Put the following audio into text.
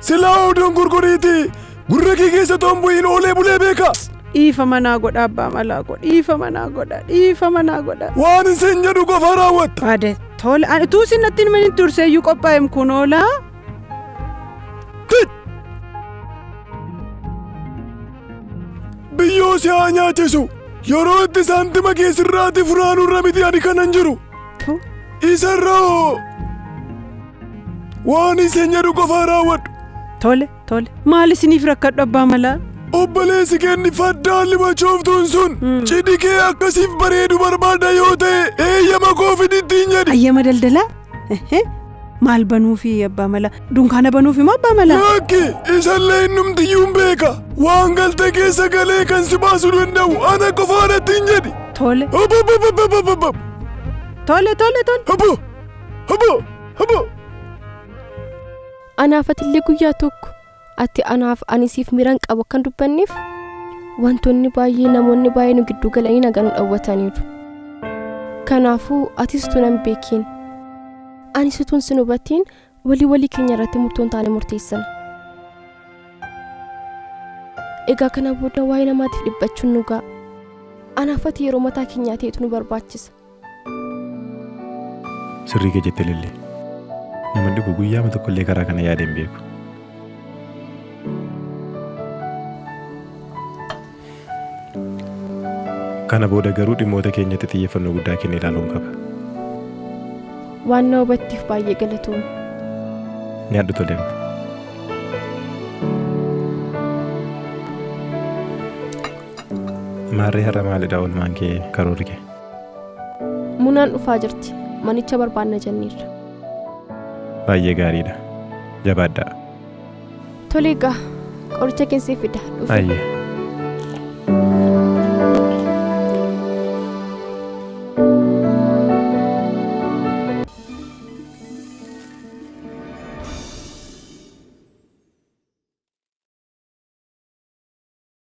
Silaa oduun gurguriiti. Gurra kee keessa toon bu'iin oolee bulee beeka. Dhiifa manaa godha abbaa malaa koo. Dhiifa manaa godha. Dhiifa manaa godha. Waan isin jedhu qofa raawwatta. Baade tola. Ani utuu isin natti hin himin hin turse iyyuu qophaa'em kun oolaa. Biyyoo si haa nyaachisu. Yeroo itti saantima kee sirraati funaanurra miti ani kanan jiru. Tu. Isarra hoo! Waan isin jedhu qofaa raawwadhu. Tole, tole. Maal isiniif rakkadhu abbaa malaa? Obboleessi kenni faddaan limachooftuun sun cidhi kee akkasiif bareedu barbaada yoo ta'e eeyyama koo fidittiin jedhi. Ayyama daldalaa? Ehee. Maal banuufi abbaa mala? Dunkaana banuuf immoo abbaa mala? Lakki isallee innumtiyyuu hin beeka. Waan galte keessa galee kan si baasuu danda'u ana qofaadha ittiin jedhi. Tole. Ababababababab. Tole tole tole. Habo habo habo. Anaaf atillee guyyaa tokko Ati anaaf ani siif miran qabu akkan dubbanneef wantoonni baay'ee namoonni baay'ee nu gidduu galanii nagaa nu dhawwataniiru. Kanaafuu atis utuu nan beekiin anis utuun sin hubatiin walii walii keenya irratti murtoon taane murteessina. Egaa kana booda waa'ee namaatiif dhiphachuun nu ga'a. Anaaf ati yeroo mataa keenyaa ta'etu nu barbaachisa. Sirrii kee jette Lilli. Nama dhibu guyyaama tokkollee karaa kana yaadee hin beeku. Kana booda garuu dhimmoota keenyatti xiyyeeffannoo guddaa kenne ilaaluun qaba. Waan na hubatteef baay'ee galatoom. Nyaadhu toleem. Maarree har'a maalidha oolmaan kee karoorri kee? Munaan dhufaa jirti. Manicha barbaanna jenneerra. Baay'ee gaariidha. Jabaadhaa. Tole egaa qoricha keessee fida. Dhufe. Ayyee.